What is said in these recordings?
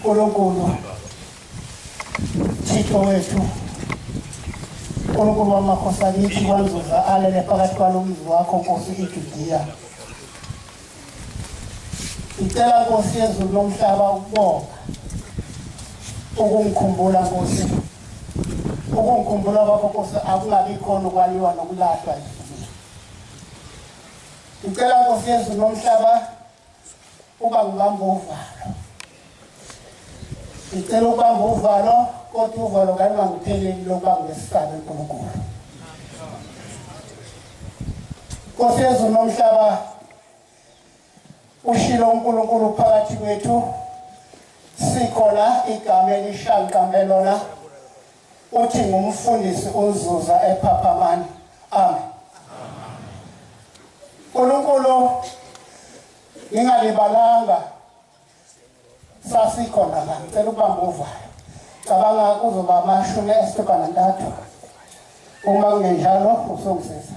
Nkulunkulu Thixo wethu Nkulunkulu wamakhosi akithi kwanzuza alele phakathi kwalo mzi wakho nkosi iJudiya ngicela nkosi yezulu lomhlaba ukubonga ukungikhumbula nkosi ukungikhumbula kwakho nkosi akungabi khona ukwaliwa nokulahlwa ngicela nkosi yezulu lomhlaba uba ngibamba uvalo ngicela ukubamba uvalo kodwa uvalo ngalungangipheleli lokuba ngesisabe unkulunkulu nkosi yezulu nomhlaba ushilo unkulunkulu phakathi kwethu sikhona igama elishanqambe lona Uthi ngumfundisi uNzuza ePhaphamani. Amen. Nkulunkulu ngingalibalanga sasikhona la ngicela ukubamba uvayo cabanga kuzoba amashumi esithuba nantathu uma kungenjalo usungisiza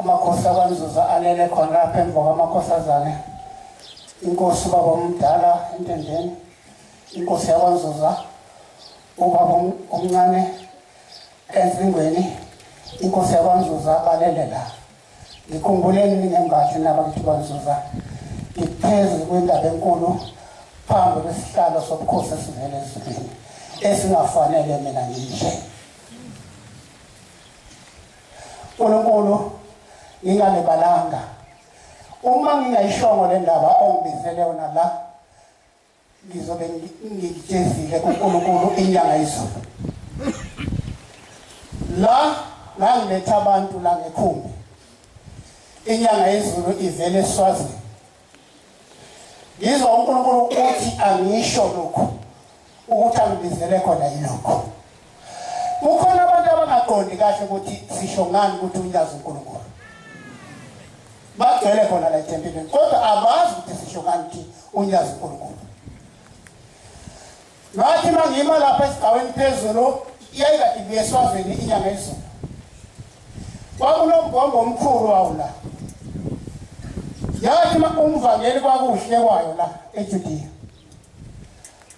amakhosi akwanzuza alele khona lapha emva kwamakhosazane inkosi ubaba omdala entendeni inkosi yakwanzuza ubaba omncane ezingweni inkosi yakwanzuza balele la ngikhumbuleni ningembathi nabakithi kwanzuza ngiphezu kwendaba enkulu phambi kwesihlalo sobukhosi esivele ezulwini esingafanele mina nginje Nkulunkulu ngingalibalanga uma ngingayishongo le ndaba ongibizele yona la ngizobe ngikutshezile kuNkulunkulu inyanga izulu la ngangiletha abantu la ngekhumbi inyanga yezulu ivele eswazini Ngizwa uNkulunkulu uthi angisho lokhu ukuthi angibizele khona yilokho. Kukhona abantu abangaqondi kahle ukuthi sisho ngani ukuthi unyazi uNkulunkulu. Bagcwele khona la ethempelini kodwa abazi ukuthi sisho ngani ukuthi unyazi uNkulunkulu. Ngathi uma ngima lapha esigcaweni phezulu iyayikade ibuye eswazini inyanga ezulu kwakunombhombo omkhulu wawo la yathi uma umvangeli kwakuhle kwayo la ejudiya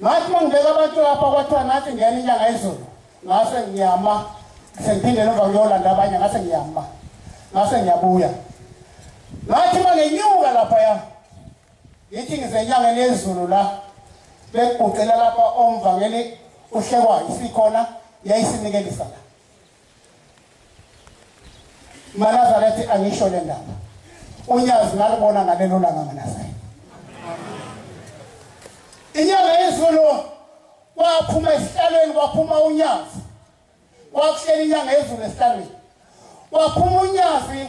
ngathi uma ngibeka abantu lapha kwathiwa nathi ngena inyanga ezulu ngase ngiyama sengiphindele emva kuyolanda abanye ngase ngiyama ngase ngiyabuya ngathi uma ngenyuka laphaya Ngithi ngize enyangeni yezulu la bekuguqela lapha omvangeli uhlekwayo sikhona yayisinikelisa la manazaretha angisho le ndaba unyazi ngalibona ngalelo langa manazaretha inyanga yezulu waphuma esihlalweni waphuma unyazi wakuhlela inyanga yezulu esihlalweni waphuma unyazi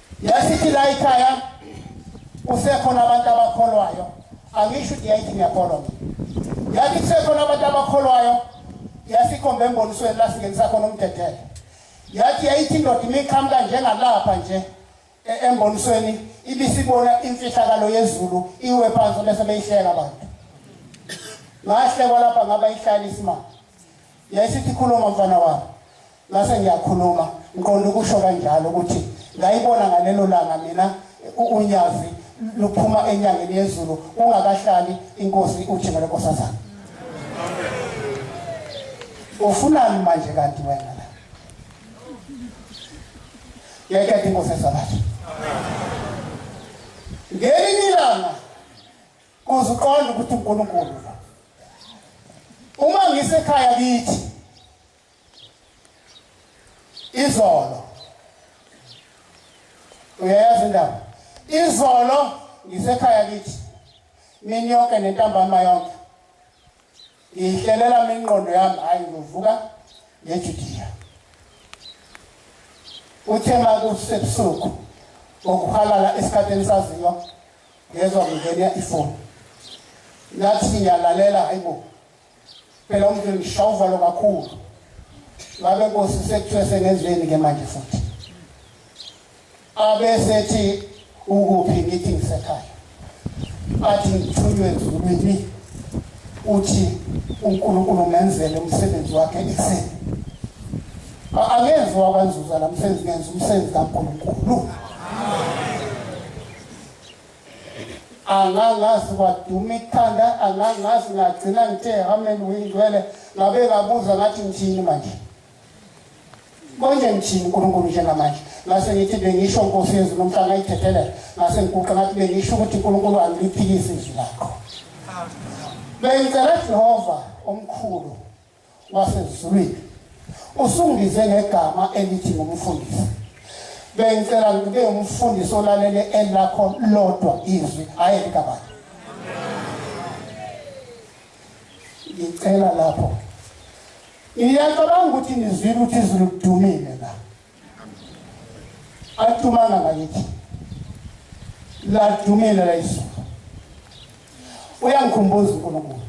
Yasithi la ikhaya kusekhona abantu abakholwayo angisho ukuthi yayithi ngiyakholwa mina yathi kusekhona abantu abakholwayo yasikhomba embonisweni la singenisa khona umdedele yathi yayithi indoda imiqhamuka njengalapha nje e, embonisweni ibisibona imfihlakalo yezulu iwe phansi bese beyihleka abantu ngahlekwa lapha ngaba ihlala isimanga yayisithi khuluma mfana wami Ngase ngiyakhuluma ngiqonda ukusho kanjalo ukuthi ngayibona ngalelo langa mina unyazi luphuma enyangeni yezulu ungakahlali inkosi uthimele nkosazana ufunani manje kanti wena la yeketha inkosi esabatha ngelinye ilanga kuze uqonde ukuthi unkulunkulu uma ngisekhaya kithi izolo uyayazi indaba izolo ngisekhaya kithi mini yonke nentambama yonke ngiyihlelela mina ingqondo yami hayi ngivuka ngejudiya uthe ma kusebusuku ngokuhalala esikhathini saziyo ngezwa kungena ifoni ngathi ngiyalalela hayi bo phela umndeni ngishova lo kakhulu ngabe nkosi sekuthiwe sengenzeni ke manje futhi abe sethi ukuphi ngithi ngisekhaya athi ngithunywe ezulwini uthi uNkulunkulu ngenzele umsebenzi wakhe ekuseni angezwa kwanzuza la msebenzi ngenza umsebenzi kaNkulunkulu amen angangazi kwaduma ikhanda angangazi ngagcina ngithe amen uyingcwele ngabe ngabuza ngathi ngithini manje konje ngithini unkulunkulu njengamanje ngase ngithi bengisho nkosi yezulu umhla ngayithethele ngase ngiguqa ngathi bengisho ukuthi unkulunkulu angiphikisi izwi lakho bengicela jehova omkhulu wasezulwini usungize ngegama elithi ngumfundisi bengicela ngibe umfundisi olalele elakho lodwa izwi hhayi elikabani ngicela lapho ngiyacabanga ukuthi nizwile ukuthi izulu kudumile la atumanga ngakithi ladumile la izulu uyangikhumbuza unkulunkulu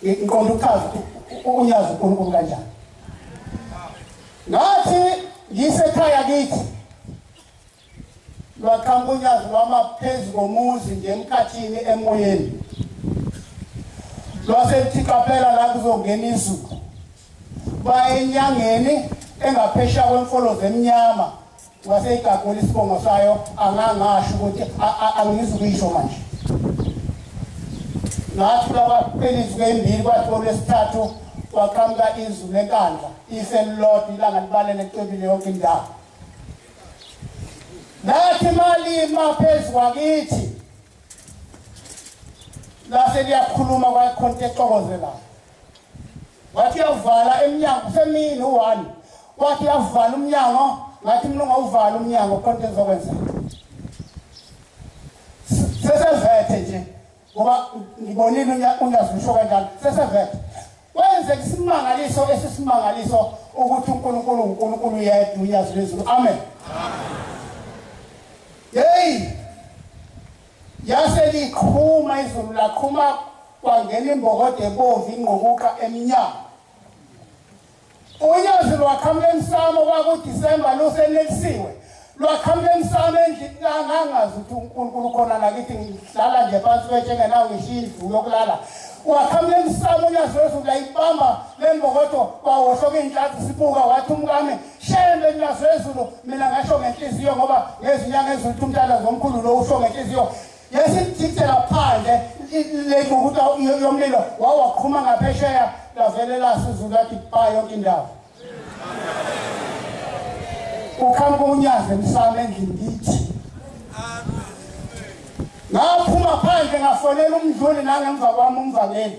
ngiqonda ukuchaza unyazi uNkulunkulu kanjani ngathi ngisekhaya kithi lwaqhamuka unyazi lwama phezu komuzi nje emkhathini emoyeni lwasethi qaphela la kuzongena izulu baye enyangeni engaphesha kwemfolo zemnyama waseyigagula isibongo sayo angangasho ukuthi angizi ukuyisho manje ngathi labaphela izuku embili kwathi olwesithathu kwaqhamuka izulu lenkandla ife lilodwa ilanga libalele licwebile yonke indawo lathi malima phezu kwakithi lase liyakhuluma kwayikhonto exokozelayo wathi uyavala emnyango usemini u-one wathi uyavala umnyango ngathi mina ungawuvala umnyango khona into engizokwenzeka sesevethe nje ngoba ngibonile unyazisho kanjani sesevethe kwenzeka isimangaliso esisimangaliso ukuthi unkulunkulu unkulunkulu yedwa unyazi lwezulu amen yeyi Yase liqhuma izulu laqhuma kwangena imbokodo ebomvu ingqukuqa emnyama. Unyazi lwaqhamuka emsamo kwakuDisemba lusenelisiwe. Lwaqhamuka emsamo endlini kangangazi ukuthi uNkulunkulu ukhona nakithi ngihlala nje phansi kwetshe ngenawo ngishiya indlu yokulala. Waqhamuka emsamo unyazi lwezulu layibamba le mbokodo kwawohloka iy'nhlathi sibuka wathi umkami shembe nilazezulu mina ngasho ngenhliziyo ngoba ngezinyanga ezithu umntana zomkhulu lo usho ngenhliziyo yesithithela phandle lekukuta yomlilo wawaqhuma ngaphesheya lavele lasizulu lathi ba yonke indawo ukhamba kunyazi emsamo endlini ngithi ngaphuma phandle ngafonela umdluli nangemva kwami umvaleli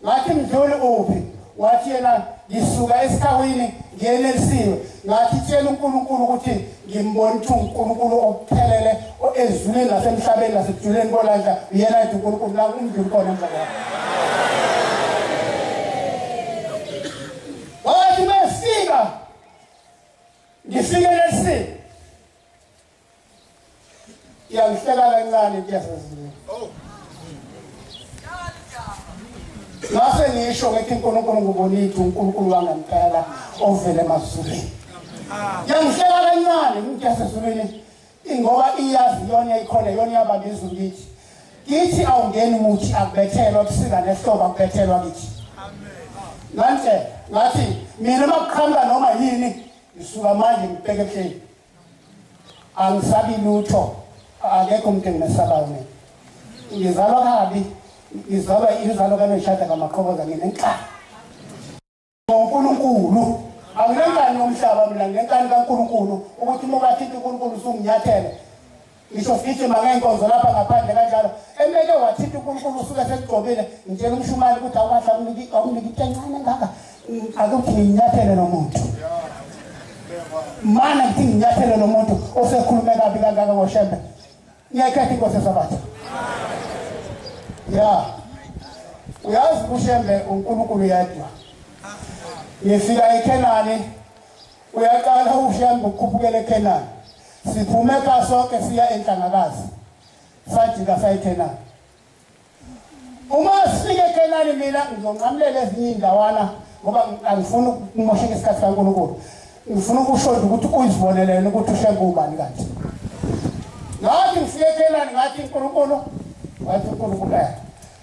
ngathi mdluli uphi wathi yena ngisuka esikhawini ngiyenelisiwe ngathi tshela uNkulunkulu ukuthi ngimbona ukuthi uNkulunkulu okuphelele ezulwini nasemhlabeni nasebujuleni kolandla uyena yedwa uNkulunkulu la umdluli khona emva kwakhe wathi mesika ngifike lesini iyangihleka kancane into yaseziwe ngase ngisho ngithi unkulunkulu ngubonithi unkulunkulu wangempela ovele emazulwini yangihleka kancane into yasezulwini ingoba iyazi yona ikhona yona iyabamba izulu kithi kithi awungeni muthi akubethelwa kusika nehlobo akubethelwa kithi ngantshela ngathi mina uma kuqhamuka noma yini ngisuka manje ngibheke ebuhleni angisabi lutho akekho umuntu engimesabayo mina ngizalwa kabi ngizalwa inzalo kaneshada kamaqhoboza nginenkani ngonkulunkulu anginenkani yomhlaba mina nginenkani kankulunkulu ukuthi uma ukathinte unkulunkulu usunginyathele ngisho sigijima ngeenkonzo lapha ngaphandle kanjalo emeke wathinta unkulunkulu usuke sekugcobile ngitshela umshumane ukuthi awukahle awunike into encane engaka akuthi nginyathele nomuntu mana ngithi nginyathele nomuntu osekhulume kabi kangaka ngoshembe ngiyayikhetha inkosi esabatha ya uyazi ushembe unkulunkulu yedwa ngifika ekhenani Uyaqala uhambe ukhuphukela eKhenani. Siphume ka sonke siya enhlangakazi. Sajika sayiKhenani. Uma sifike eKhenani mina ngizonqamulela ezinye indawana ngoba angifuni ukumosheka isikhathi kaNkulunkulu. Ngifuna ukusho ukuthi uyizibonelene ukuthi ushembe ubani kanti. Ngathi ngifike eKhenani ngathi uNkulunkulu wathi uNkulunkulu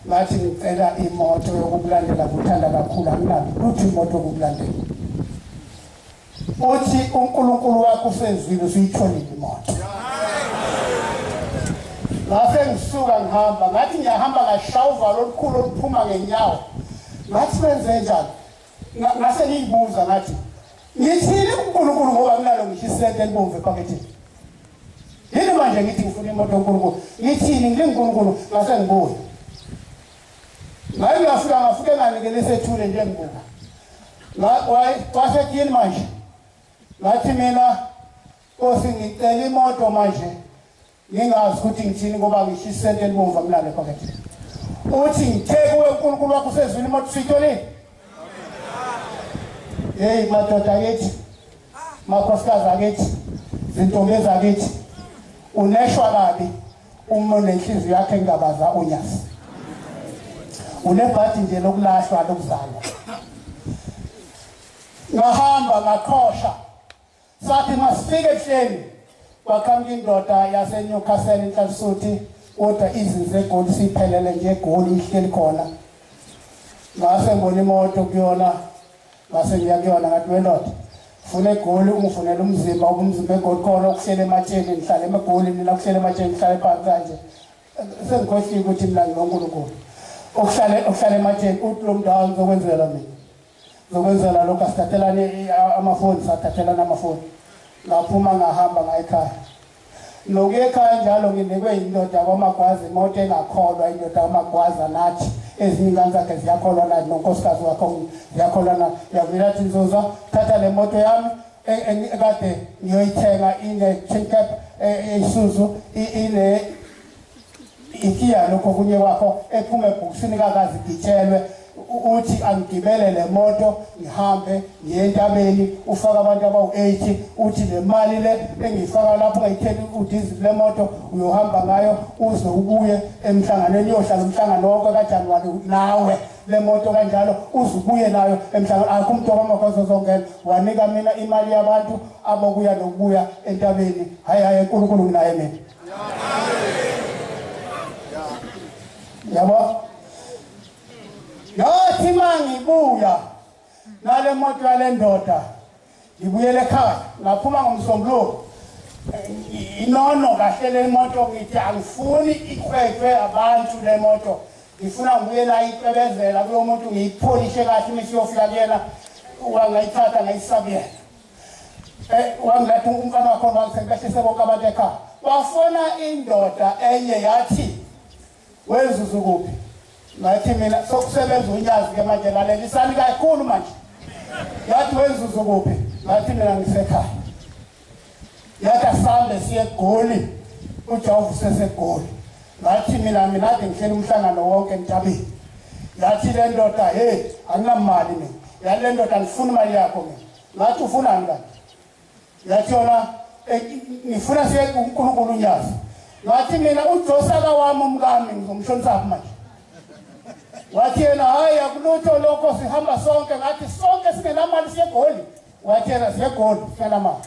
Ngathi ngicela imoto yokukulandela kuthanda kakhulu anginalo lutho imoto yokukulandela. Uthi uNkulunkulu wakho usezwile usuyitholile imoto. Ngase ngisuka ngihamba ngathi ngiyahamba ngashaya uvalo olukhulu oluphuma ngenyawo. Ngathi benze njani? ngase ngiyibuza ngathi ngithini uNkulunkulu ngoba kunalo ngihlisente elibomvu ephaketheni yini manje ngithi ngifuna imoto uNkulunkulu ngithini nginguNkulunkulu ngase ngibuye ngaye ngafika ngafike nganikele isethule nje ngibuka wasetyini manje ngathi mina kosi ngicela imoto manje Ngingazi ukuthi ngithini ngoba ngisho isente elibomvu amlalo ephaketheni. Uthi ngithe kuwe uNkulunkulu wakho usezwini uma kusitholile. Hey madoda yethi makhosikazi akithi zintombi ezakithi uneshwa kabi uma unenhliziyo yakhe engabaza unyasi unebhadi nje lokulahlwa lokuzalwa ngahamba ngaqhosha Sathi masifike ehleni kwaqhamuka indoda yaseNewcastle inhlansuthi kodwa izinze egoli siphelele nje egoli ihleli khona ngase ngibona imoto kuyona ngase ngiya kuyona ngathi wendoda funa egoli ungifunela umzimba ubumzimba egoli khona okuhlele ematsheni ngihlale emegoli mina kuhlele ematsheni ngihlale phansi kanje sengikhohlile ukuthi mina ngilonkulunkulu okuhlale okuhlale ematsheni uthi lo mntu awa ngizokwenzela mina Ngokwenzela lokho asithathelane amafoni sathathelana amafoni ngaphuma ngahamba ngayikhaya nokuye ekhaya njalo nginikwe yindoda kwamagwazi imoto engakholwa indoda kwamagwaza nathi ezinye ingane zakhe ziyakholwa nathi nonkosikazi wakho ziyakholwa na yavela athi nzuza thatha le moto yami kade ngiyoyithenga ine-chincap eyisuzu ine Ikiya lokho kunye kwakho ephuma ebhokisini kakazi gitshelwe uthi angigibele le moto ngihambe ngiye entabeni ufaka abantu abawu-80 uthi le mali le engiyifaka lapho ngayitheli udizi kule moto uyohamba ngayo uze ubuye emhlanganweni uyohlala umhlangano wonke kajanuwari nawe le moto kanjalo uze ubuye nayo emhlangano akho umntu wamagozo zongena wanika mina imali yabantu abokuya nokubuya entabeni hhayi hhayi enkulunkulu nginaye mina yabo ngathi mangibuya nale moto yale ndoda ngibuyele ekhaya ngaphuma ngomsombuluko inono kahle le moto ngithi angifuni ikhwethwe abantu le moto ngifuna ngibuyela icebezela kulo muntu ngiyipholishe kahle uma isiyofika kuyena wangayithatha ngayisabuyela Eh, wangiletha umfana wakho wangisengibehlise bonke abantu ekhaya wafona indoda enye yathi wenzuzu kuphi ngathi mina sokusebenza unyazi ke manje lalelisani kakhulu manje yathi wenzuzu kuphi ngathi mina ngisekhaya yathi asambe siye egoli ujehova usesegoli ngathi mina mina ade ngihleli umhlangano wonke entabeni yathi le ndoda heyi anginamali mina yale ndoda andifuni imali yakho mina ngathi ufunani kanti ngathi yona eh, ngifuna siye kuNkulunkulu unyazi ngathi mina ujosaka wami umkami ngizomshonisaphi manje wathi yena hhayi akulutho lokho sihamba sonke ngathi sonke singenamali siyegoli wathi yena siyegoli singenamali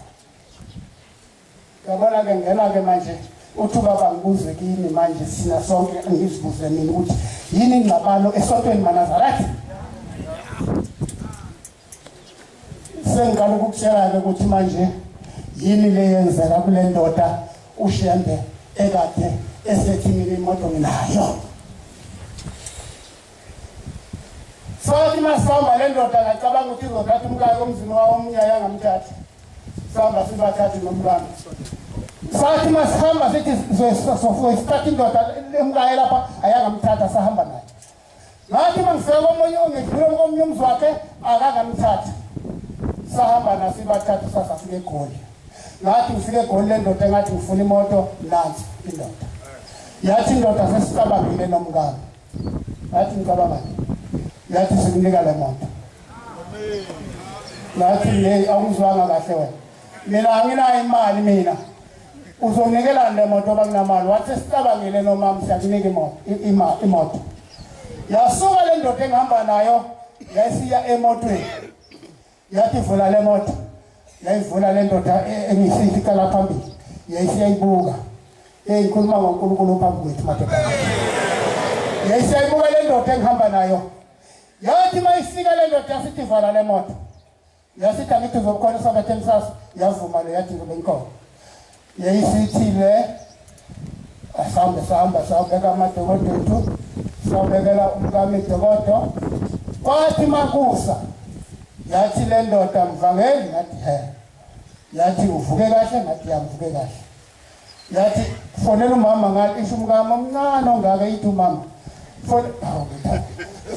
Yabona ke ngena ke manje uthi ubaba ngibuzwe kini manje sina sonke angizibuze mina ukuthi yini ingxabano esontweni manazareth sengiqala ukukutshela-ke ukuthi manje yini le yenzeka kule ndoda ushembe ekade esethi mina imoto nginayo sothi masihamba le ndoda ngacabanga ukuthi izothatha umkayo omzini wawo omunye ayangamthathi sihamba sibathathe nomntwana sathi masihamba sithi soyisithatha indoda emkaye lapha ayangamthatha sahamba naye ngathi uma ngifika komunye ngidlule komunye umzi wakhe akangamthatha sahamba nasibathatha sasafika egoli ngathi ngifike egoli le ndoda engathi ngifuna imoto nansi indoda yathi indoda sesicabangile nomkami Ngathi ngicabangani? Ngathi sikunika le moto. Ngathi hey awuzwanga kahle wena. Mina anginayo imali mina. Uzonikela le moto bakunamali. Wathi sicabangile nomama siyakunika imoto imali imoto. Yasuka le ndoda engihamba nayo yayisiya emotweni. yathi vula le moto yayivula le ndoda e- engiyisithi iqala phambili yayisiyayibuka eyikhuluma ngonkulunkulu phambi kwethu madoda yayisiyayibuka le ndoda engihamba nayo yathi uma ifika le ndoda yasithi vala le moto yasithi angithi uzobukhona isabethe emsasa yavuma le yathi ngibe inkomo yeyisithile asambe sihamba sawubeka amadokododu sawubekela umkamidokodo kwathi makusa yathi le ndoda mvangeli ngathi he yathi uvuke kahle ngathi yamvuke kahle yathi fonela umama ngathi isho umkami omncane ongaka yithi umama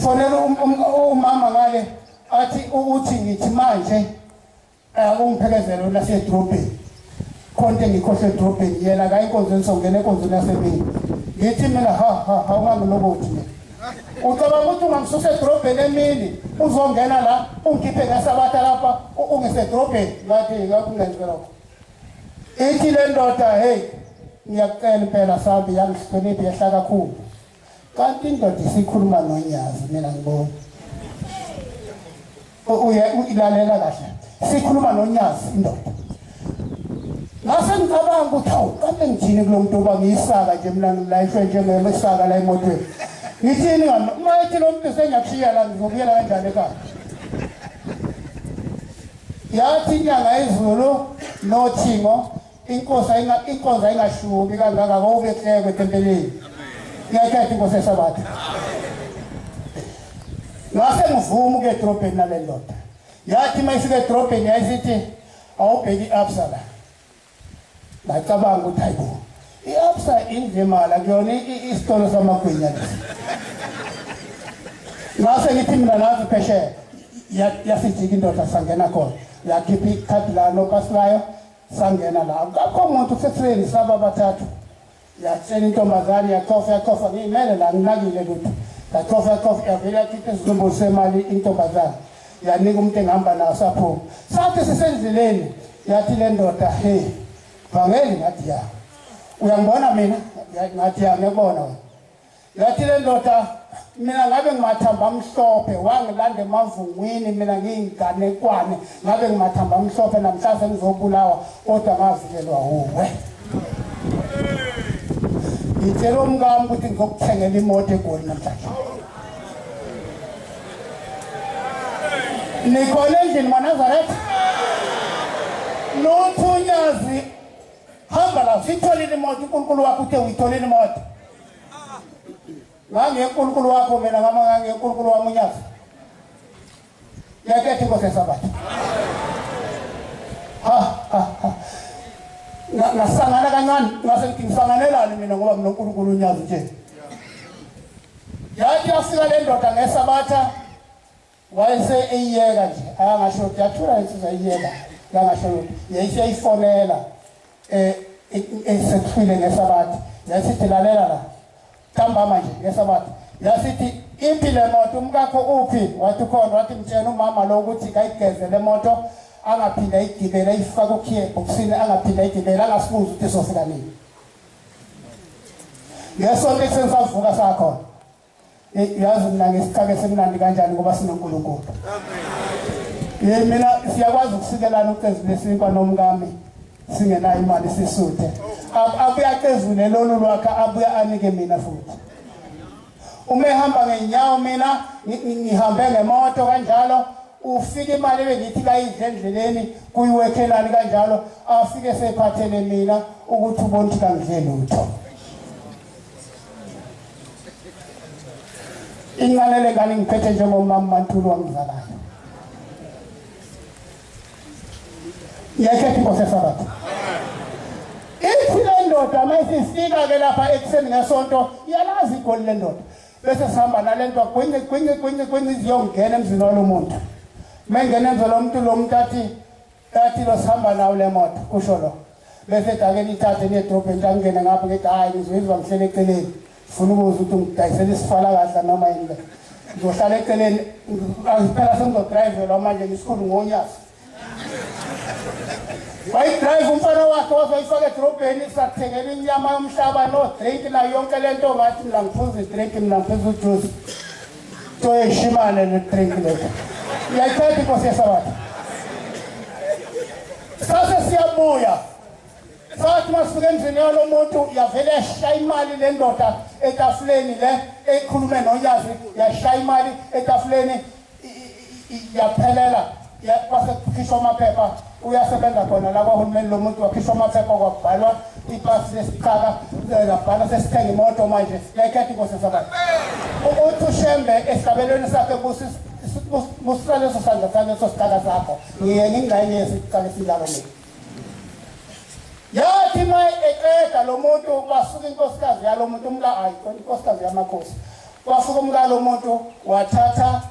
fonela um, um, umama ngale athi ukuthi ngithi manje Eh, ungiphekezelo lasedrobheni khona into engikhohle edrobheni yena kayi enkonzweni songena enkonzweni yasemini ngithi mina ha ha ha ungangilokothi mina ucabanga ukuthi ungamsusa edrobheni emini uzongena la ungikhiphe ngesabatha lapha ungisedrobheni ngathi ngakungenzi lokho ithi le ndoda heyi ngiyakucela impela sambi yangihloniphi yehla kakhulu Kanti indoda isikhuluma nonyazi mina ngibona. Uye uyilalela kahle. Sikhuluma nonyazi indoda. Ngase ngicabanga ukuthi awu kanti ngithini kulomuntu oba ngiyisaka nje mina ngilayishwe njengema isaka la emotweni. Ngithini ngani uma ethi lo muntu sengiyakushiya la ngizobuyela kanjani ekhaya? Yathi inyanga izulu nothingo Inkosi ayinga inkonzo ayingashubi kangaka ngokubethekwe etempeleni. Ngiyakhetha inkosi esabatha. Ngase ngivuma ke drobheni nale ndoda. Yathi mayifike drobheni yayisithi awubheki absala. Ngacabanga ukuthi hayibo. I-absa indlemala kuyona isitolo samagwinya lesi. Ngase ngithi mina nazi phesheya yasijika indoda sangena khona. Yakhipha ikhadi lalo kasilayo sangena la akukho muntu sesweni saba bathathu yatshela intombazane yacofa yacofa ngiyimele la nginakile lutho yacofa yacofa yavele yakhipha izinumbu semali intombazane yanika umuntu engihamba nawo saphuma sathi sisendleleni yathi le ndoda he vangeli ngathi ya uyangibona mina ngathi ya ngiyakubona wena Yathi le ndoda mina ngabe ngimathamba amhlophe wangilanda emavungwini mina ngiyinganekwane ngabe ngimathamba amhlophe namhlanje ngizobulawa kodwa ngavikelwa wuwe ngitshela umkami ukuthi ngizokuthengela imoto egoli namhlanje nikhona endlini manazaretha nothunyazi hamba la siyitholile imoto unkulunkulu wakho uthe uyitholile imoto ngangenkulunkulu wakho mina ngama ngangenkulunkulu wami unyazi yakethe inkosi yesabatha ngasangana kancane ngase ngithi ngisanganelani mina ngoba mina unkulunkulu unyazi nje yathi yafika le ndoda ngesabatha wayese eyiyeka nje akangasho ukuthi yathula insizwa eyiyeka yangasho ukuthi yayiseyifonela eh esethwile ngesabathi yasithi lalela la kambama nje ngesabathi yasithi iphi le moto umkakho uphi wathi khona wathi mtshena umama lo ukuthi kayigeze le moto angaphinde ayigibele ayifake ukhiye ebhokisini angaphinde ayigibele angasibuzi ukuthi sofika nini ngesonto ekuseni savuka sakhona yazi mina ngesicake semnandi kanjani ngoba sinonkulunkulu ye mina siyakwazi ukusikelana ucezu lesinkwa nomkami singenayo imali sisuthe abuye acezule lolu lwakhe abuye anike mina futhi uma ehamba ngenyawo mina ngihambe ngemoto kanjalo ufike imali ebengithi kayidle endleleni kuyiwekhelani kanjalo afike sephathele mina ukuthi ubona ukuthi kangidle lutho inqalele ngani ngiphethe njengomama mantulu wangizalayo ngiyayithetha inkosi esabatha ithi le ndoda uma isifika ke lapha ekuseni ngesonto iyalazi igoli le ndoda bese sihamba nale nto gwinci gwinci gwinci gwinci ziyongena emzini walo muntu uma ingena emzini lo muntu lo muntu athi Ethi lo sihamba nawo le moto kusho lo. Bese dake nithathe niye edrobheni xa ngingene ngapha ngithi hhayi ngizwizwa ngihlele eceleni. Funa ukuza ukuthi ngidayisele isifala kahle noma yini le. Ngizohlala eceleni angiphela sengizodrayivelwa manje ngisikhulu ngonyasi. wayidrayiva umfana wakhe wazoyifaka edrobheni sathengela inyama yomhlaba no-drink nayo yonke le nto ngathi mina ngiphuza i-drink mina ngiphuza ujuice Toyeshimane ne drink leta. Yayiqeda inkosi yesabatha. Sase siyabuya. Sathi masifika endlini yalo muntu yavele yashaya imali le ndoda etafuleni le ekhulume noyazi yashaya imali etafuleni yaphelela kwase kukhishwa amaphepha uyasebenza khona la kwahulumeni lo muntu wakhishwa amaphepha kwabhalwa ipasi lesiqaka labhala sesithenga imoto manje yayikhetha inkosi yesabani uthi ushembe esigabelweni sakhe busisa leso sandla saleso siqaka sakho ngiye ngingxenye yesiqaka esilalo mina yathi ma eqeda lo muntu basuka inkosikazi yalo muntu umla ayi inkosikazi yamakhosi Kwafika umkalo umuntu wathatha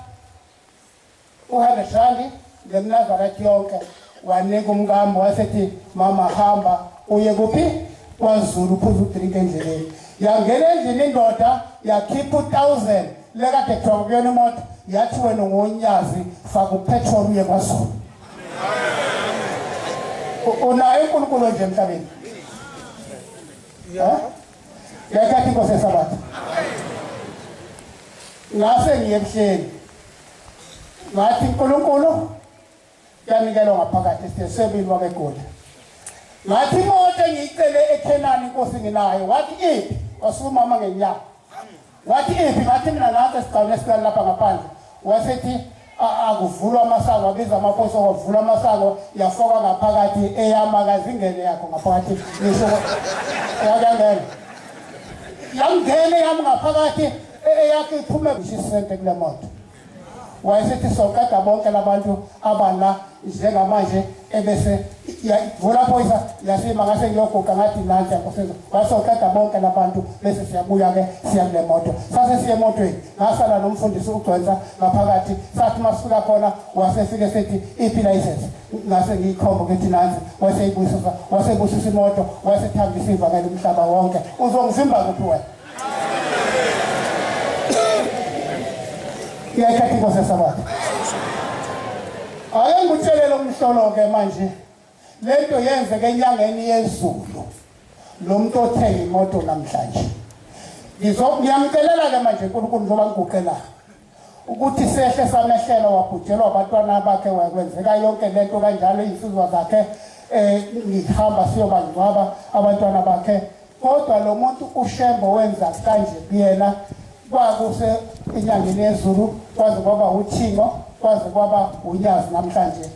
u-hundred randi ngemnazakati yonke wanika umkami wasethi mama hamba uye kuphi kwazulu uphuza udrinki endleleni yangena endlini indoda yakhipha u-thousand lekade kuthiwa kuyona imoto yathi wena ungonyazi faka upetrol uye kwazulu unayo unkulunkulu onje emhlabeni Yeah. Huh? Ngiyakhathi inkosi yesabatha. Ngase ngiye ebuhleni. Ngathi uNkulunkulu yanikelwa ngaphakathi esitesebini wakeGoli. Ngathi imoto engiyicele eKhenani inkosi nginayo. Wathi iphi? Wasumama ngenyanga. Wathi iphi ngathi mina nansi esigcawini esikani lapha ngaphandle wasethi akuvulwa amasango abiza amaposo wavula amasango yafoka ngaphakathi eyama kazingene yakho ngaphakathi ngisho yakangena yamngene yami ngaphakathi eyakhe iphume ngisho isente kule moto wayesethi soqeda bonke labantu abala njengamanje ebese vula phoyisa yasima ngase ngiyoguqa ngathi nansi yakusiza wasoqeda bonke labantu bese siyabuya-ke siya kule moto sase siye emotweni ngasala nomfundisi ugcwensa ngaphakathi sathi uma sifika khona wasefike sethi iphi layisensi ngase ngiyikhomba ukuthi nansi waseyibusisa wasebusisa imoto wasethambisa ivakela umhlaba wonke uzongivimba kuphi wena iyayithatha inkosi yasabatha ake ngikutshelele umhlolo-ke manje le nto yenzeka enyangeni yezulu lo muntu othenga imoto namhlanje ngiyamcelela-ke manje nkulunkulu njengoba ngiguqelayo ukuthi sehle samehlela wabhujelwa abantwana bakhe wakwenzeka yonke le nto kanjalo iy'nsizwa zakhe um ngihamba siyobangcwaba abantwana bakhe kodwa lo muntu ushembo wenza kanje kuyena kwakuse enyangeni yezulu kwaze kwaba uthingo kwaze kwaba unyazi namhlanje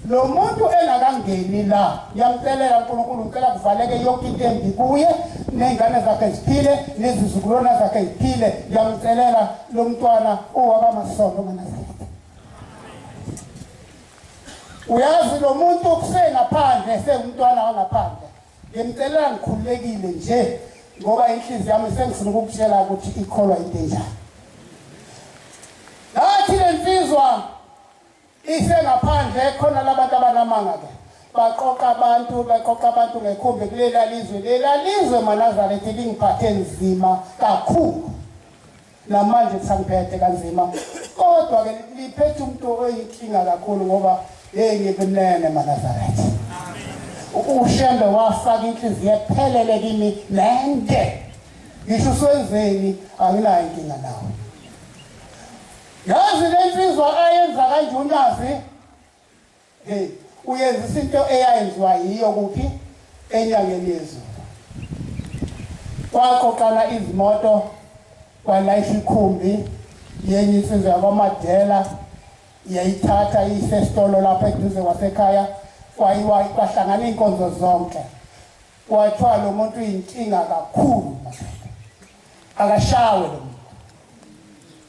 lo muntu engakangeni la yamcelela uNkulunkulu ngicela kuvaleke yonke into embi kuye ney'ngane zakhe ziphile nezizukulwana zakhe ziphile yamcelela lo mntwana owabamasondo nganazarete uyazi lo muntu kusengaphandle sengumntwana wangaphandle ngimcelela ngikhululekile nje ngoba inhliziyo yami sengifuna ukukutshela ukuthi ikholwa into enjani ngathi le nsizwa Ise ngaphandle khona labantu abanamanga ke baqoqa abantu baqoqa abantu ngekhumbi kulela lizwe lela lizwe manazaretha lingiphathe nzima kakhulu namanje kusangiphethe kanzima kodwa ke liphethe umuntu oyinkinga kakhulu ngoba hey ngikunene manazaretha ushembe wafaka inhliziyo ephelele kimi nende ngisho uswenzeni anginayo inkinga nawe Yazi lensizwa ayenza kanje uNazi. Hey, uyenzisa into eyayenziwa yiyo kuphi enyangeni yezulu. Kwaqoqana izimoto kwalayisha ikhumbi yenye insizwa yakwaMadela yayithatha iyise esitolo lapha eduze kwasekhaya kwayiwa kwahlangana iy'nkonzo zonke kwathiwa lo muntu uyinkinga kakhulu akashawe lo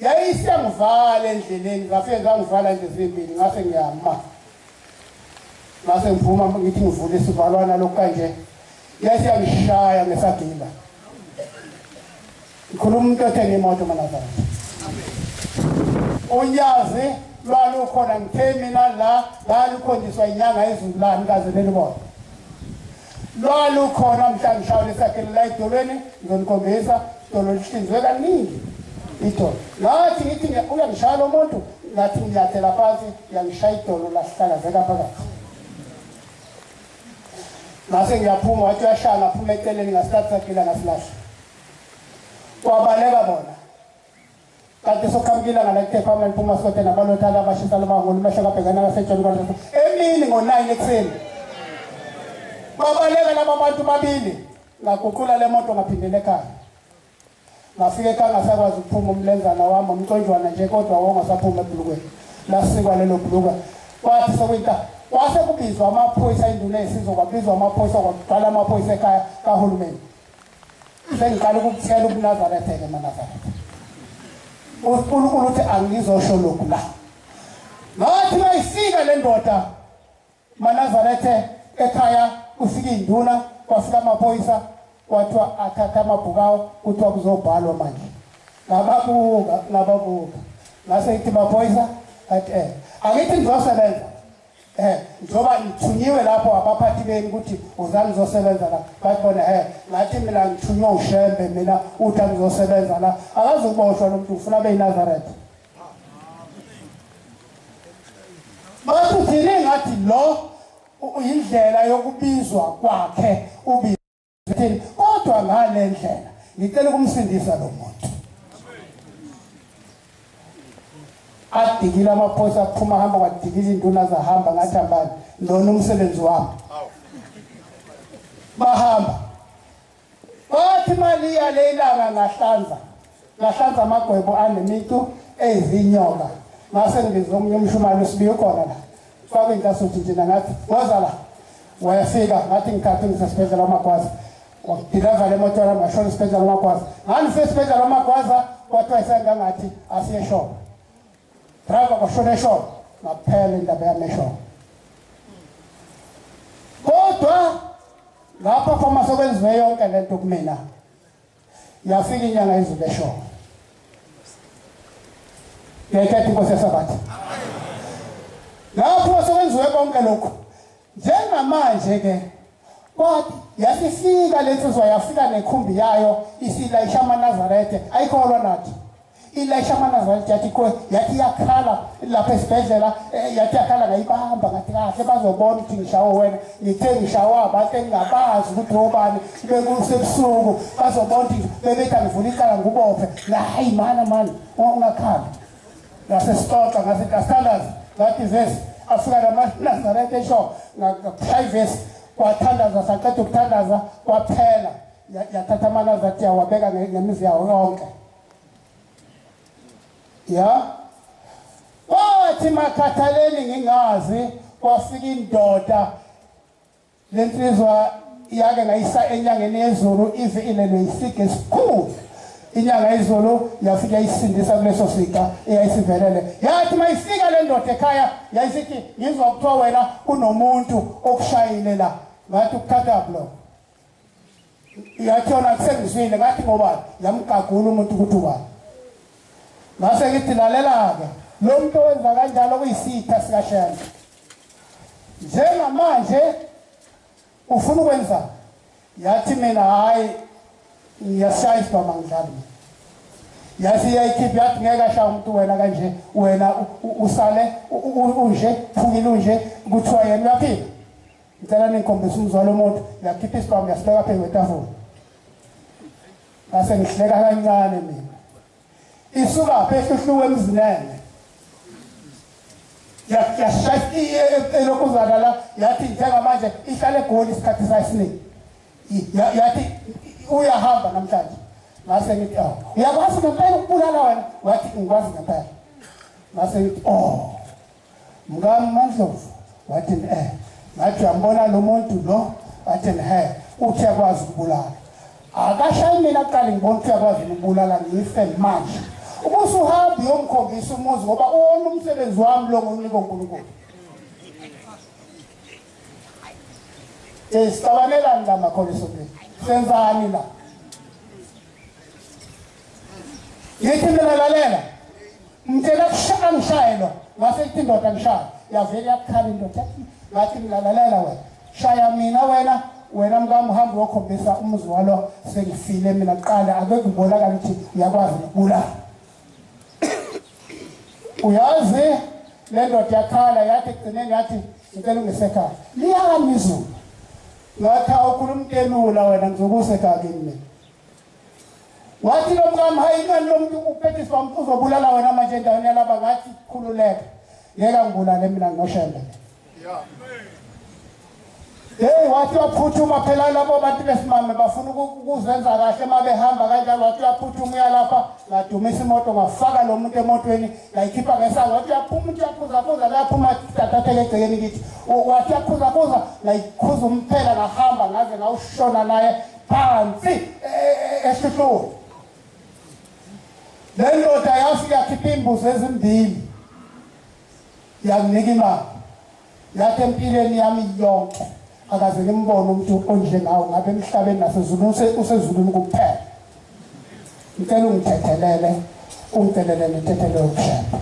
yayisengivala endleleni ngase zangivala nje zimbili ngase ngiyama ngase ngiphuma ngithi ngivule isivalwana lokhu kanje yayisiyangishaya ngesagila ngikhuluma umuntu othenge imoto manazana unyazi lwalukhona ngithe mina la lalukhonjiswa inyanga ezulu lami kaze lelibona lwalukhona mhla ngihlawula esakhelela edolweni ngizonikhombisa idolo lihlinzwe kaningi idolo ngathi ngithi uyangishaya lo muntu ngathi ngiyathela phansi uyangishaya idolo lasihlakazeka phakathi ngase ngiyaphuma wathi uyashaya ngaphuma eceleni ngasikhathi saphila ngasilahla kwabaleka bona kanti soqhamuka ilanga lakutepha amla liphuma sote nabalothana abashisa lobangulu mehlo kabhekana kasetshoni kwalesa emini ngo-nine ekuseni babaleka laba bantu babili ngaguqula le moto ngaphindela ekhaya ngafika ekhaya ngasakwazi ukuphuma umlenzana wami umconjwana nje kodwa wongasaphuma ebhulukweni lasikwa lelo bhuluka kwathi sokwinta kwase kubizwa amaphoyisa induna yesizwe kwabizwa amaphoyisa kwaqala amaphoyisa ekhaya kahulumeni sengiqala ukukuthela ubunazarethe-ke manazarethe unkulunkulu uthi angizosho lokhu la ngathi mayifika le ndoda manazarethe ekhaya ufika induna kwafika amaphoyisa kwathiwa athatha amabhukawo kuthiwa kuzobhalwa manje ngababuka ngababuka ngase ngithi maphoyisa at eh angithi ngizosebenza eh njoba ngithunyiwe lapho abaphathi beni ukuthi uzani ngizosebenza la bayibona eh ngathi mina ngithunywe ushembe mina uthi angizosebenza la akazukuboshwa lo muntu ufuna abe yinazareth bathi uthini ngathi lo uyindlela yokubizwa kwakhe ubi Thini kodwa ngale ndlela ngicela ukumsindisa lo muntu. Adikile amaphosa aphuma hamba kwadikile induna zahamba ngathi hambani lona umsebenzi wami. Bahamba. Bathi mali yale ilanga ngahlanza. Ngahlanza amagwebo anemicu eyizinyoka. Ngase ngibiza omunye umshumane usibiye khona la. Faka inkasuthi njena ngathi, "Woza la." Wayefika ngathi ngikhathi ngisesibhedlela uMagwaza. Ngidilazala emoto yami ngashona esibhedlela uMagwaza. Ngangise esibhedlela uMagwaza kwathiwa isengangathi asiye shop. Driver kwashona eshop ngaphela indaba yami eshop. Kodwa lapha phoma sekwenziwe yonke lento kumina. Yafika inyanga yezulu eshoko. Ngekhetha inkosi yesabatha. Lapho sekwenziwe konke lokho. Njengamanje ke kwathi yasifika lensizwa yafika nekhumbi yayo isilayisha amaNazaretha ayikholwa nathi. ilayisha amanazareth yathi kwe yathi yakhala lapha esibhedlela eh, yathi yakhala ngayibamba ngathi kahle bazobona ukuthi ngishawo wena ngithe ngishawo abantu engingabazi ukuthi obani bekusebusuku bazobona ukuthi bebethi angivula icala ngubophe hayi mana mani ungakhali ngasesixoxa ngase ngasithandazi ngathi vesi afika namanazareth esho ngakushaya ivesi kwathandaza saqeda ukuthandaza kwaphela yathatha amanazareth yawabeka ngemizi yawo yonke ya wathi makhathaleni ngingazi kwafika indoda lensizwa yake ngayisa enyangeni yezulu ize ilelwe isige esikhulu inyanga izulu yafike yayisindisa kuleso sixa eyayisivelele yathi mayifika le ndoda ekhaya yayisithi ngizwa kuthiwa wena unomuntu okushayile la ngathi ukuthatha block Yathola kusengizwile ngathi ngoba yamgagula umuntu ukuthi ubani. Ngase ngithi lalela-ke lo muntu owenza kanjalo kuyisitha sikaShembe. Njengamanje ufuna ukwenza yathi mina hayi ngiyashaya isibhama ngidlali yathi iyayikhipha yathi ngeke ashaya umuntu wena kanje wena usale unje phukile unje kuthiwa yena uyaphila Ngicela ningikhombise umzwa lomuntu, ngiyakhipha isibhamu ngiyasibeka phezu kwetafula. Ngase ngihleka kancane mina. Isuka phehluhluwe emzinene. Yashaya elokhu uzakala yathi njengamanje ihlale egoli isikhathi sayisiningi. Yathi uyahamba namhlanje. Ngase ngithi oh, uyakwazi ngempela ukubulala wena? Wathi ngikwazi ngempela. Ngase ngithi oh Mkami Mandlovu wathi eh ngathi uyambona lo muntu lo wathi he uthi akwazi ukubulala akashayi mina kuqala ngibona ukuthi uyakwazi ukubulala ngife manje uma usuhambe uyomkhombisa umuzi ngoba uwona umsebenzi wami lo ngonika unkulunkulu um sicabanelani la makholisomini senzani la Ngithi mina lalela. Ngicela kushaya ngishayelwa. Ngase ithi indoda ngishaya. Yavele yakukhala indoda. Ngathi mina lalela wena. Shaya mina wena. wena mkami uhambe uyokhombisa umuzi walo sengifile mina kuqala akekho kubonakala ukuthi uyakwazi ukubulala uyazi le ndoda yakhala yathi ekugcineni yathi ngicela ungisekhaya liyami izulu ngathi awukhuluma utelula wena ngizokusekhaya kimi mina wathi lo mkami hayi kani lo muntu uphethiswa uzobulala wena manje endaweni yalaba ngathi khululeka ngeke angibulale mina nginoshembe Hey wathi waphuthuma phela labo bantu besimame bafuna ukuzenza kahle uma behamba kanjalo wathi uyaphuthuma uyalapha ngadumisa imoto ngafaka lo muntu emotweni ngayikhipha ngesango wathi uyaphuma umuntu uyaphuzaphuza laphuma tathathele egcekeni kithi wathi uyaphuzaphuza ngayikhuza umphela ngahamba ngaze ngawushona naye phansi ehluhlweni le ndoda yafika yakhipha iimbuzi ezimbili yanginika imali yathi empilweni yami yonke akaze ngimbone umuntu onjengawo ngabe emhlabeni nasezulwini usezulwini kuphela ngicela ungithethelele ungithelele ngithethelele ukushepha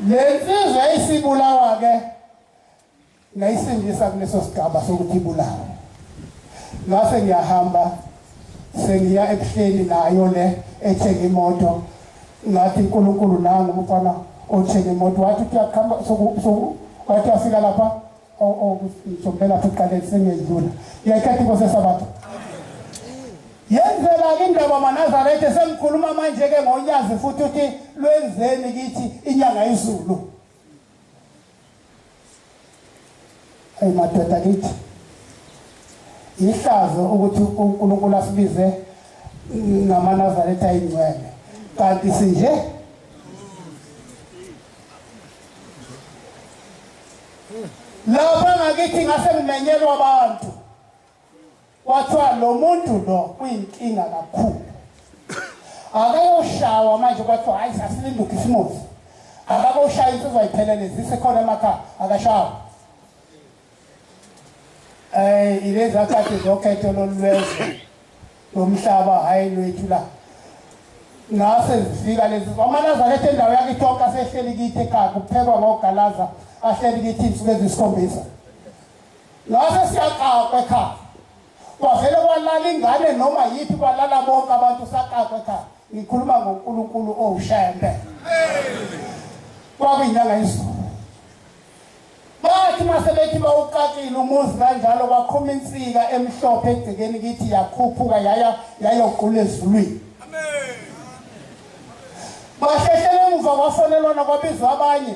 le nsizwa eyisibulawa-ke ngayisindisa kuleso sigaba sokuthi ibulawe ngase ngiyahamba sengiya ebuhleni nayo le ethenga imoto ngathi uNkulunkulu nangu umfana othenga imoto wathi kuyaqhamba wathi afika lapha sokuphela siqale sengedlula ngiyayithatha inkosi esabatha yenzela-ke indaba manazaretha sengikhuluma manje-ke ngonyazi futhi uthi lwenzeni kithi inyanga izulu Hey madoda kithi. Ihlazo ukuthi uNkulunkulu asibize ngamanazaretha ingcwele. Kanti sinje Lapha ngakithi ngase ngimenyelwa abantu. Kwathiwa lo muntu lo uyinkinga kakhulu. Akayoshawa manje kwathiwa hayi sasilinde uKhisimusi. Akakoshaya insizwa iphelele zisekhona emakhaya akashawa. Eh ilezi akade zokhetho lolwezwe lomhlaba hayi lwethu la. Ngase zifika lezi amalaza lethe indawo yakhe tonka sehleli kithi ekhaya kuphekwa ngogalaza ahleli kithi insuku ezisikhombisa. Ngase siyaqaqwa ekhaya. Kwavele kwalala ingane noma yithi kwalala bonke abantu saqaqwa ekhaya. Ngikhuluma ngoNkulunkulu owushembe. Kwakuyinyanga yesizulu. Bathi mase bethi bawuqaqile umuzi kanjalo kwaqhuma insika emhlophe egcekeni kithi yakhuphuka yaya yayogqula ezulwini. Amen. Bahlehlele emuva kwafonelwana kwabizwa abanye.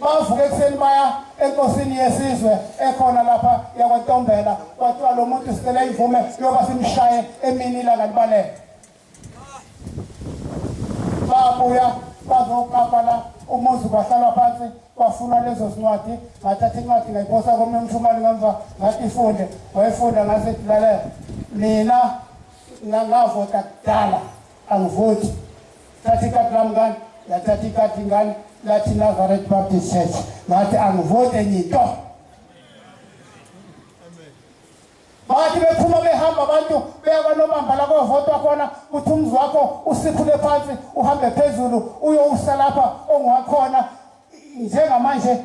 bavuka ekuseni baya enkosini yesizwe ekhona lapha yakwantombela kwathiwa lo muntu sicela imvume yoba simshaye emini ilanga libalele babuya bazokapala umuzi kwahlalwa phansi kwafuna lezo zincwadi ngathatha incwadi ngayiphosa komnye umshumali ngemva ngathi ifunde wayifunda ngase lalela mina ngavota kudala angivoti thatha ikati lami ngani yathatha ikati ngani lathi nazareth baptist church ngathi angivoti enye into bathi bephuma behamba abantu beya kwanobamba la kovotwa khona kuthi umzi wakho usiphule phansi uhambe phezulu uyowusa lapha ongiwakhona njengamanje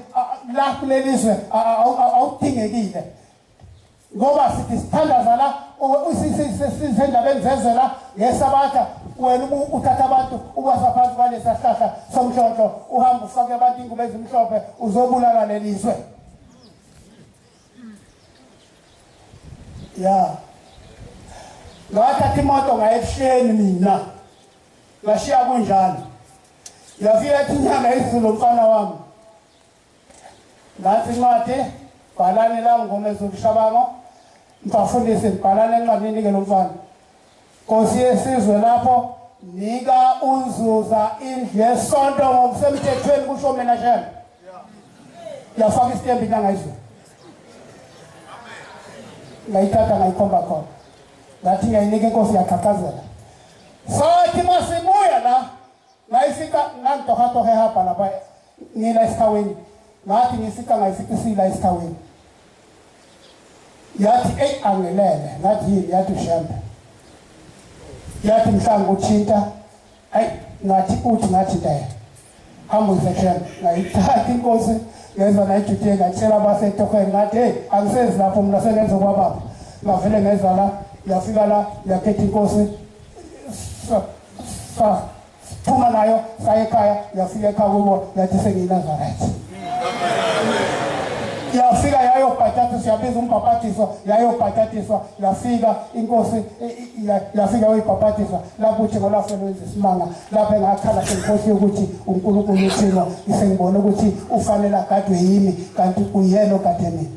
la kuleli zwe awudingekile ngoba sithi sithandaza la sisendabeni zezwe la ngesabatha wena uthatha abantu ubasa phansi kwalesasihlahla somhlonhlo uhamba ufake abantu ingubo ezimhlophe uzobulala leli zwe ya ngathatha imoto ngaye ebusheni mina ngashiya kunjalo yafika ethi inyanga izulu mfana wami ngathi incwadi bhalani la ngoma ezokushabango mfafundisi bhalani encwadini ke lomfana Nkosi yesizwe lapho nika unzuza indlu yesonto ngokusemthethweni kusho mina shela yafaka isitembu into angayizwa ngayithatha ngayikhomba khona ngathi ngiyayinika inkosi yaqhaqhazela sathi masibuya la Ngayisika ngangitohatohe hapa lapha ngila esithaweni ngathi ngisika ngayisikisila esithaweni yathi eyi angelele ngathi yini yathi ushembe yathi mhlawumbe uthinta ayi ngathi uthi ngathi daya hambuyise shembe ngayithatha inkosi ngezwa nayijudie ngatshela abasetohweni ngathi heyi angisezi lapho mna sengenza kwababa ngavele ngezwa la yafika la yakhetha inkosi Sa- Phuma nayo saya ekhaya yafika ekhaya kubo yathi sengiyiNazaretha. Yafika yayobhatatiswa yabiza umbhabhatiso yayobhatatiswa yafika inkosi i- i- ya- yafika yoyibhabhatisa lapho uthi ngolafeni wenza isimanga lapho engakhala senkosi yokuthi uNkulunkulu uthino isengibona ukuthi ufanele agadwe yimi kanti uyena ogade mina.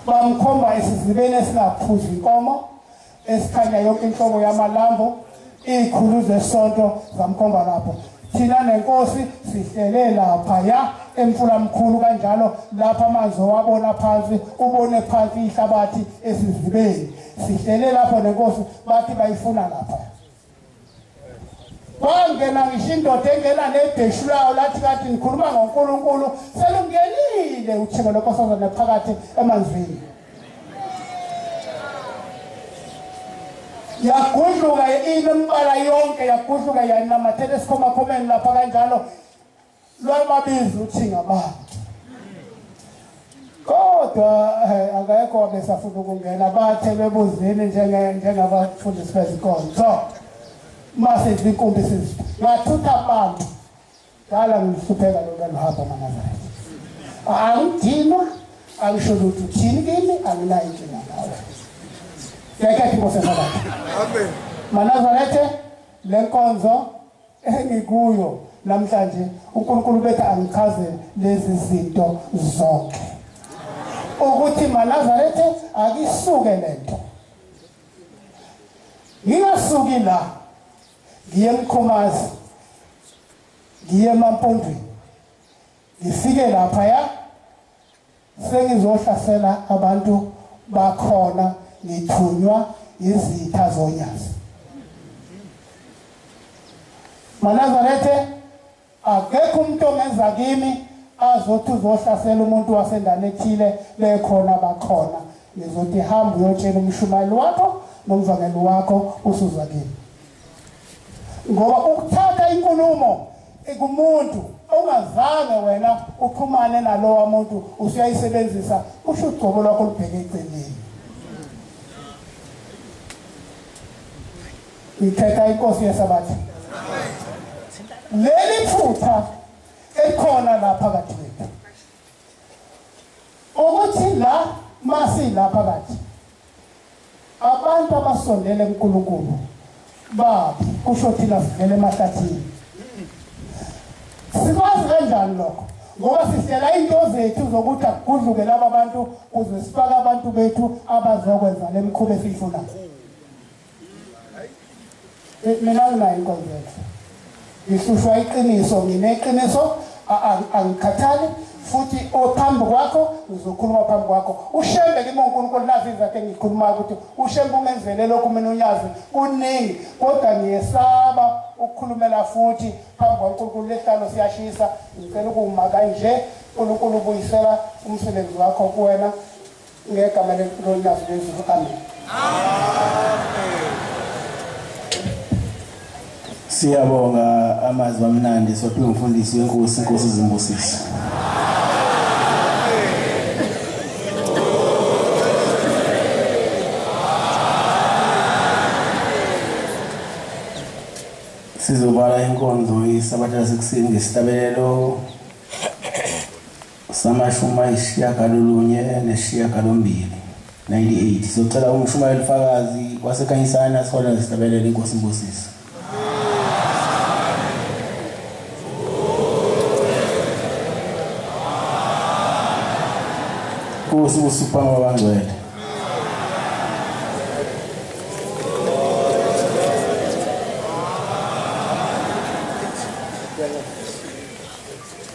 bamkhomba esizibeni esingaphuzi inkomo esikhanya yonke inhlobo yamalambo izikhulu zesonto zamkhomba lapho thina nenkosi sihlele lapha ya emfula mkhulu kanjalo lapha amanzi owabona phansi ubone phansi ihlabathi esizibeni sihlele lapho nenkosi bathi bayifuna lapha Kwangena ngisho indoda engena nebheshu lawo lathi kade nikhuluma ngoNkulunkulu selungenile uthiko lonkosazana phakathi emanzini. Yagudluka inemibala yonke yagudluka yanamathela esikhomakhomeni lapha kanjalo lwababiza uthi ngabantu kodwa eh, akekho wabesafuna ukungena bathe bebuzini njengabafundisi bezikolo so masizi inkumbi sizi ngathutha abantu dala ngihlupheka lona luhamba manazareth angidinwa angisho lutho uthini kimi anginayo inkinga ngawe ngeke athi nkosi esabatha manazarethe le nkonzo engikuyo namhlanje uNkulunkulu bethe angichaze lezi zinto zonke ukuthi manazarethe akisuke lento ngingasuki la ngiye emkhomazi ngiye emampondweni Ngifike lapha ya sengizohlasela abantu bakhona ngithunywa izitha zonyazi. Manazarethe akekho umuntu ongenza kimi azothi uzohlasela umuntu wasendaweni ethile bekhona bakhona ngizothi hamba uyotshela umshumayeli wakho nomvangeli wakho usuzwa kimi ngoba ukuthatha inkulumo kumuntu ongazange wena uxhumane nalowa muntu usuyayisebenzisa kusho ugcobo lwakho lubheke eceleni ngithetha inkosi yesabatha leli phutha elikhona la phakathi kwethu ukuthi la masila phakathi Abantu abasondele kuNkulunkulu baphi kusho thina sivele emahlathini. Sikwazi kanjani lokho? Ngoba sihlela into zethu zokuthi akugudluke laba bantu kuze sifake abantu bethu abazokwenza lemkhuba esiyifunayo. mina nginayo inkonzo yakhe ngihlushwa iqiniso ngineqiniso angikhathali futhi ophambi kwakho ngizokhuluma phambi kwakho ushembe kimi unkulunkulu nazi izathu engikhulumayo ukuthi ushembe ungenzele lokhu mina unyazi kuningi kodwa ngiyesaba ukukhulumela futhi phambi kwankulunkulu lehlalo siyashisa ngicela ukuwumaka nje unkulunkulu ubuyisela umsebenzi wakho kuwena Ngegama leNkulunkulu nazo lezulu. Amen. Siyabonga amazwi amnandi sophiwe umfundisi wenkosi inkosi zimbusise. Sizovala inkonzo isabatha lasekuseni ngesihlabelelo Samashumi ayishiyagalolunye nesishiyagalombili, 98, sizocela uMshumayeli Fakazi waseKhanyisani asiholele ngehlabelelo iNkosi imbusise. Nkosi busa ukuphambi kwabangcwele.